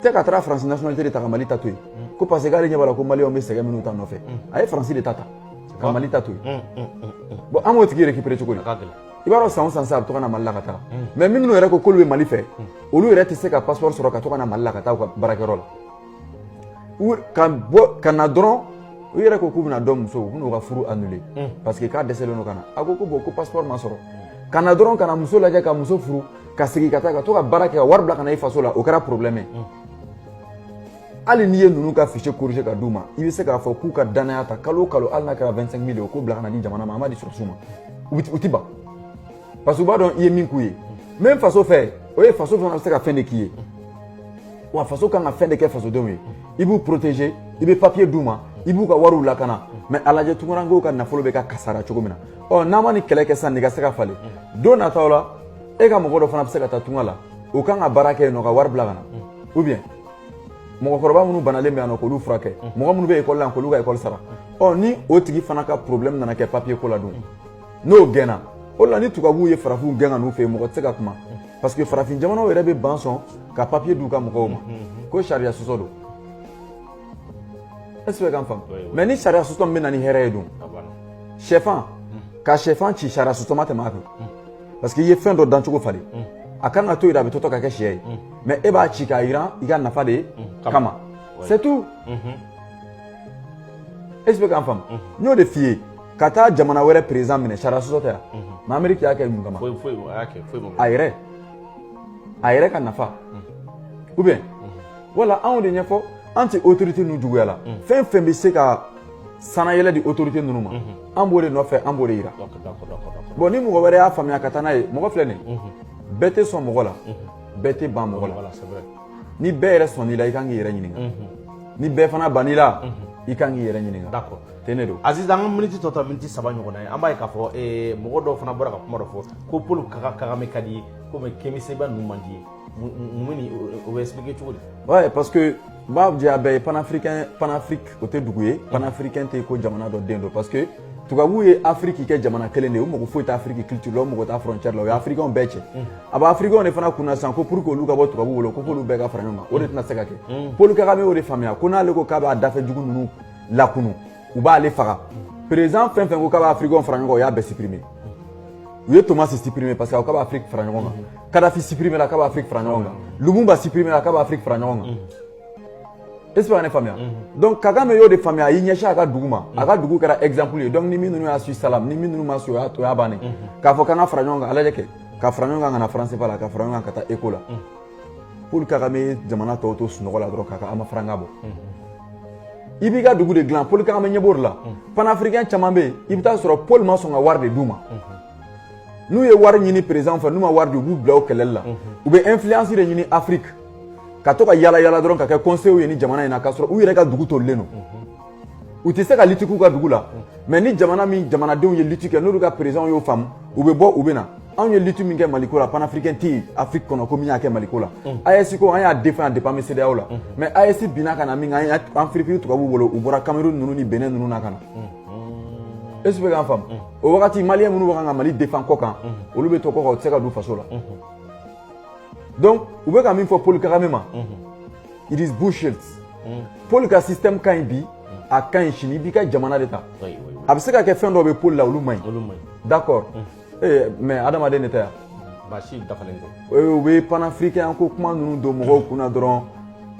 tɛ ka taara faransi nationalité de ta ka mali ta to yen ko parce que k'ale ɲɛ b'a la ko maliyɛnw bɛ sɛgɛn minnu ta nɔfɛ a ye faransi de ta ta ka mali ta to yen bon an b'o tigi récupérer cogo di i b'a dɔn san o san sa a bɛ to ka na mali la ka taga mais minnu yɛrɛ ko k'olu bɛ mali fɛ olu yɛrɛ tɛ se ka passeport sɔrɔ ka to ka na mali la ka taa u ka baarakɛyɔrɔ la ka bɔ ka na dɔrɔn u yɛrɛ ko k'u bɛna dɔ muso u bɛn'u ka furu annuler parce que k'a dɛsɛlen don ka na a ko ko bon ko passeport ma sɔrɔ ka na dɔrɔn ka na muso lajɛ ka muso furu ka segin ka taa ka to ka baara kɛ ka wari bila ka na i faso la o kɛra problème ye hali n'i ye ninnu ka fichier corriger ka d'u ma i bɛ se k'a fɔ k'u ka dannaya ta kalo o kalo hali n'a kɛra 25 mille ye k'o bila ka na di jamana ma an b'a di sɔrɔsiw ma u ti ban parce que u b'a dɔn i ye min k'u ye n bɛ faso fɛ o ye faso fana bɛ se ka fɛn de k'i ye wa faso kan ka fɛn de kɛ fasodenw ye i b'u protéger i bɛ papier d'u ma i b'u ka wariw lakana mais a lajɛ tunkarankew ka nafolo bɛ ka kasara cogo min na ɔ n'an ma nin kɛlɛ kɛ sisan nin ka se ka falen don nataw la e ka mɔgɔ dɔ fana bɛ se ka taa tunga la o kan ka baara kɛ yen nɔ ka wari bila ka na ou bien mɔgɔkɔrɔba minnu banalen bɛ yan nɔ k'olu furakɛ mɔgɔ minnu bɛ ekɔli la k'olu ka ekɔli sara ɔ ni o tigi fana ka problème nana kɛ papier ko la dun n'o gɛnna o la ni tubabuw ye farafinw gɛn ka n'u fɛ yen mɔgɔ tɛ se ka kuma parce que farafin jamanaw yɛrɛ bɛ ban sɔn ka papier d'u ka mɔgɔw ma ko sariya sɔsɔ don est ce que k'an faamu mais ni sariya sɔsɔ min bɛ na ni hɛrɛ ye dun sɛfan ka sɛfan ci sariya sɔsɔ ma tɛmɛ a kan parce que i ye fɛn dɔ dancogo falen a kan ka to yen a bɛ tɔtɔ ka kɛ sɛ ye mais e b'a ci k'a yiran i ka nafa de kama c'est tout e bɛ k'an faamu n y'o de f'i ye ka taa jamana wɛrɛ perezan minɛ sariya sɔsɔ tɛ yan mais ameriki y'a kɛ mun kama a yɛrɛ a yɛrɛ ka nafa ou bien wala anw de ɲɛfɔ an tɛ autorité ninnu juguya la fɛn fɛn bɛ se ka sannayɛlɛn di autorité ninnu ma an b'o de nɔfɛ an b'o de yira bon ni mɔgɔ wɛrɛ y'a faamuya ka taa n'a ye mɔgɔ filɛ nin bɛɛ tɛ sɔn mɔgɔ la bɛɛ tɛ ban mɔgɔ la ni bɛɛ yɛrɛ sɔnn'i la i kan k'i yɛrɛ ɲininka ni bɛɛ fana bann'i la i kan k'i yɛrɛ ɲininka tiɲɛ don aziz an ka miniti tɔ ta miniti saba ɲɔgɔnna ye an b'a ye k'a fɔ mɔgɔ dɔw fana bɔra ka kuma dɔ fɔ ko paul kagame ka d'i ye komi kemi seba ninnu man d'i ye munna o bɛ expliquer cogo di ouais parce que u b'a jɛ a bɛɛ ye panafricain panafrique o tɛ dugu ye panafricain tɛ ko jamana dɔ den don parce que tubabuw ye afiriki kɛ jamana kelen de ye u mago foyi tɛ afiriki culture la u mago t'a frontière la o ye afirikɛnw bɛɛ cɛ a bɛ afirikɛnw de fana kunna sisan ko pour que olu ka bɔ tubabuw bolo ko f'olu bɛɛ ka fara ɲɔgɔn kan o de tɛna se ka kɛ paul kagame y'o de faamuya ko n'ale ko k'a b'a dafɛ dugu ninnu lakunun u b'ale faga perezan fɛn fɛn ko k'a bɛ afirikɛnw fara ɲɔgɔn kan u y'a bɛɛ sipirime u ye tomasi sipirime parce que a ko k'a bɛ afiriki fara ɲɔgɔn kan kadafi sipirimela k'a bɛ afiriki fara ɲɔgɔn kan lumumba sipirimela k'a bɛ afiriki fara ɲɔgɔn kan est ce que ne faamuya donc kagame y'o de faamuya a y'i ɲɛsin a ka dugu ma a ka dugu kɛra exemple ye donc ni min ninnu y'a su salam ni min ninnu ma su o y'a bannen k'a fɔ k'an ka fara ɲɔgɔn kan a lajɛ kɛ ka fara ɲɔgɔn kan ka na franc cfa la ka fara ɲɔgɔn kan ka taa eko la Paul kagame ye jamana tɔw to sunɔgɔ la dɔrɔn k'a ma faranga bɔ i b'i ka dugu de dilan paul kagame ɲɛ b'o de la panafirikɛn caman bɛ yen i bɛ taa sɔrɔ paul ma sɔn ka wari de d'u ma n'u ye wari ɲini perezan fɛ n'u ma wari di u b'u bila o kɛlɛli la u bɛ ɛnfiliyansi de ɲini afiriki ka to ka yala yala dɔrɔn ka kɛ kɔnseyew ye ni jamana in na k'a sɔrɔ u yɛrɛ ka dugu tolilen don u tɛ se ka liti k'u ka dugu la mɛ ni jamana min jamanadenw ye liti kɛ n'olu ka perezan y'o faamu u bɛ bɔ u bɛ na anw ye liti min kɛ maliko la panafirikɛn tɛ yen afiriki kɔnɔ ko min y'a kɛ maliko la AES ko an y'a defan depi an bɛ sedeyaw la mɛ AES binna ka na min kɛ an firifiri tubabu bolo u bɔra kamerun ninnu ni bɛnɛn ninnu na ka na ɛsi i bɛ k'an faamu o wagati maliyɛn minnu bɛ kan ka mali defan kɔ kan olu bɛ to kɔ kan u tɛ se ka don faso la donc u bɛ ka min fɔ paul kagame ma it is bullshit mm. paul ka système ka ɲi bi a ka ɲi sini i b'i ka jamana de ta a bɛ se ka kɛ fɛn dɔw bɛ paul la olu man ɲi d'accord mm. eh, mais adamaden de tɛ yan maa si dafalen tɛ eh, u bɛ panafricain ko kuma ninnu don mɔgɔw kunna dɔrɔn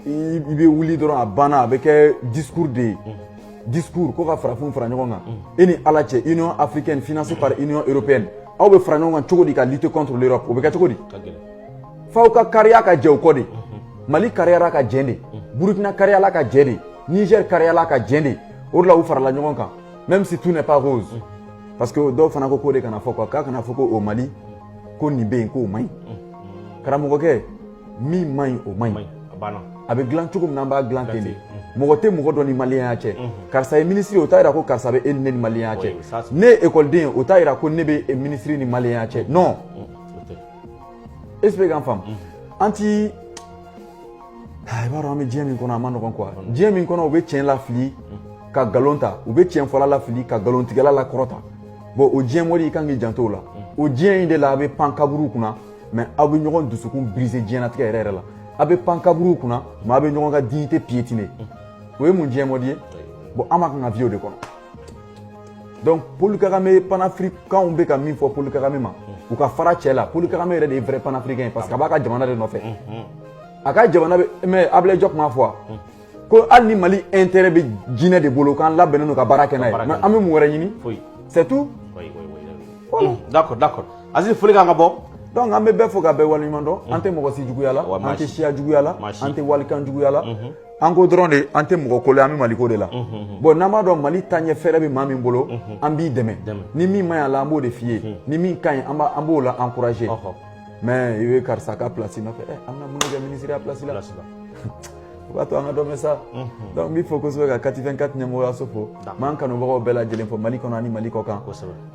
i bɛ wuli dɔrɔn a banna a bɛ kɛ discours de ye mm. discours ko ka farafinw fara ɲɔgɔn kan e ni ala cɛ union africaine financée par union européenne aw bɛ fara ɲɔgɔn kan cogo di ka lutter contre l'europe o bɛ kɛ cogo di f'aw ka kariya ka jɛ o kɔ de mali kariyara ka jɛ de burukina kariyala ka jɛ de niger kariyala ka jɛ de o de la u farala ɲɔgɔn kan même si tout n'est pas rose parce que dɔw fana ko k'o de kana fɔ quoi k'a kana fɔ ko o mali ko nin bɛ yen k'o man ɲi karamɔgɔkɛ min man ɲi o man ɲi a bɛ dilan cogo min na an b'a dilan ten de mɔgɔ tɛ mɔgɔ dɔ ni maliyɛnya cɛ karisa ye minisiri o t'a yira ko karisa bɛ e ni ne ni maliyɛnya cɛ ne ye ekɔliden ye o t'a yira ko ne bɛ minisiri ni maliyɛnya cɛ non ɛsi i bɛ k'an faamu an ti i b'a dɔn an bɛ diɲɛ min kɔnɔ a ma nɔgɔn kuwa diɲɛ min kɔnɔ u bɛ tiɲɛ lafili ka nkalon ta u bɛ tiɲɛfɔla lafili ka nkalontigɛla lakɔrɔta bɔn o diɲɛ mɔdi i kan k'i janto o la o diɲɛ in de la a bɛ pan kaburu kunna mɛ aw bɛ ɲɔgɔn dusukun brise diɲɛnatigɛ yɛrɛ yɛrɛ la a bɛ pan kaburu kunna mɛ aw bɛ ɲɔgɔn ka dignité piétiner o ye mun diɲɛ mɔdi ye bɔn an ma kan ka vie o de kɔnɔ donc Paul Kagame panafricains bɛ ka min fɔ Paul Kagame ma u ka fara cɛ la Paul Kagame yɛrɛ de ye vrai panafricain parce que a b'a ka jamana de nɔfɛ a ka jamana mais Ablaye Diop m'a fɔ ko hali ni Mali intérêt bɛ jinɛ de bolo k'an labɛnnen don ka baara kɛ n'a ye mais an bɛ mun wɛrɛ ɲini c'est tout d'accord d'accord Aziz foli k'an ka bɔ donc an bɛ bɛɛ fo ka bɛɛ waleɲuman dɔn an tɛ mɔgɔ si juguya la an tɛ siya juguya la an tɛ walikan juguya la an ko dɔrɔn de an tɛ mɔgɔko la an bɛ maliko de la bɔn n'an b'a dɔn mali taaɲɛ fɛɛrɛ bɛ maa min bolo an b'i dɛmɛ ni min man ɲi a la an b'o de f'i ye ni min ka ɲi an b'o la ankuraje mɛ i bɛ karisa ka plasi nɔfɛ an bɛna mun kɛ minisiriya plasi la o b'a to an ka dɔ mɛn sa dɔnku n b'i fo kosɛbɛ ka kati vɛn kati ɲɛmɔgɔyaso fo n b'an kanubagaw bɛɛ lajɛlen fo mali kɔnɔ ani mali kɔ kan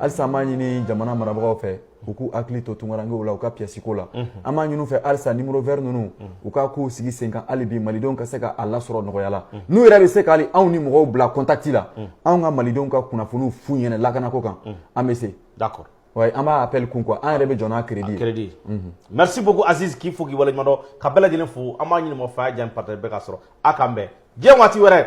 halisa an b'a ɲini jamana marabagaw fɛ u k'u hakili to tunkarankew la u ka piyasi ko la mhm. an b'a ɲin'u fɛ halisa numéro vert ninnu mhm. u ka k'u sigi sen kan hali bi malidenw ka se ka a lasɔrɔ nɔgɔya la mhm. n'u yɛrɛ bɛ se ka hali anw ni mɔgɔw bila contact la anw ka malidenw ka kunnafoniw f'u ɲɛna lakanako kan an bɛ se d'accord Oui, an b'a appel kun quoi an yɛrɛ bɛ jɔ n'a crédit ye merci beaucoup Aziz k'i fo k'i waleɲuman dɔn ka bɛɛ lajɛlen fo an b'a ɲini mɔgɔ fɛ a y'a j'aime ni partage bɛɛ ka sɔrɔ a k'an bɛn diɲɛ waati wɛrɛ